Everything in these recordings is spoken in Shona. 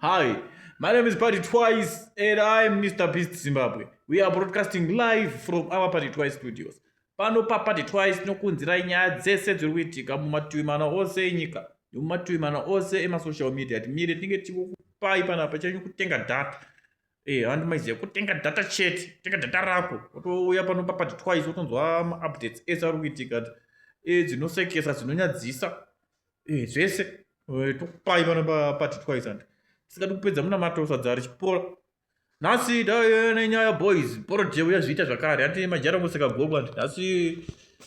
Hi, my name is Party Twice and I am Mr. Beast Zimbabwe. We are broadcasting live from our Party Twice studios. Pano pa Party Twice tinokunzirai nyaya dzese dziri kuitika mumativi mana ose enyika nemumativi mana ose emasocial media. Timire tinenge tichikupai panapa chanyu kutenga data. Eh, handi maiziya kutenga data chete tenga data rako wotouya pano papati twice wotonzwa maupdates ese ari kuitika ti eh, dzinosekesa dzinonyadzisa eh, zvese eh, tokupai pano papati twice andi tisingadi kupedza munamato sadza richipora nhasi dai nenyaya boys porojeu yazviita zvakare handi majara ngoseka gogo andi nhasi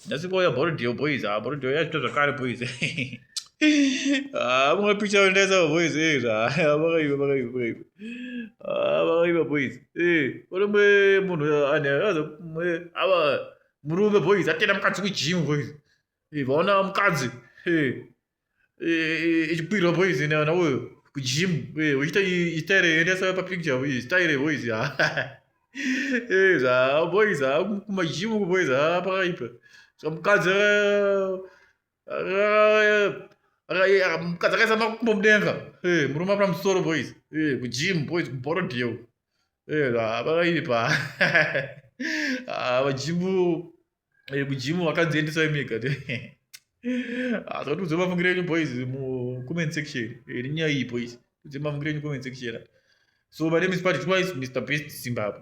Nhasi kwauya Bordio boys, ah Bordio yazvita zvakare boys. Ah mwa picha undaisa boys eh zva. Vakaiva vakaiva vakaiva. Ah vakaiva boys. Eh, uri mwe munhu ane azo mwe ava murume boys atenda mukadzi ku gym boys. Eh, vaona mukadzi. Eh. ichikwirwa boys ina na uyo kujim uchiita style yendesa pa picture uyi style boys ha eh za boys ha kuma jim ku boys ha pakaipa so mukadzi mukadzi akaisa makumbo mudenga eh murume apana musoro boys eh kujim boys kuboard yo eh za pakaipa ha vajimu Eh, kujimu vakadziendesai mega asatiudze ah, mafungiro enyu boys mucomment section iri eh, nyaya iyi boys udze mafungiro enyu comment section so my name is patrick wise mr best zimbabwe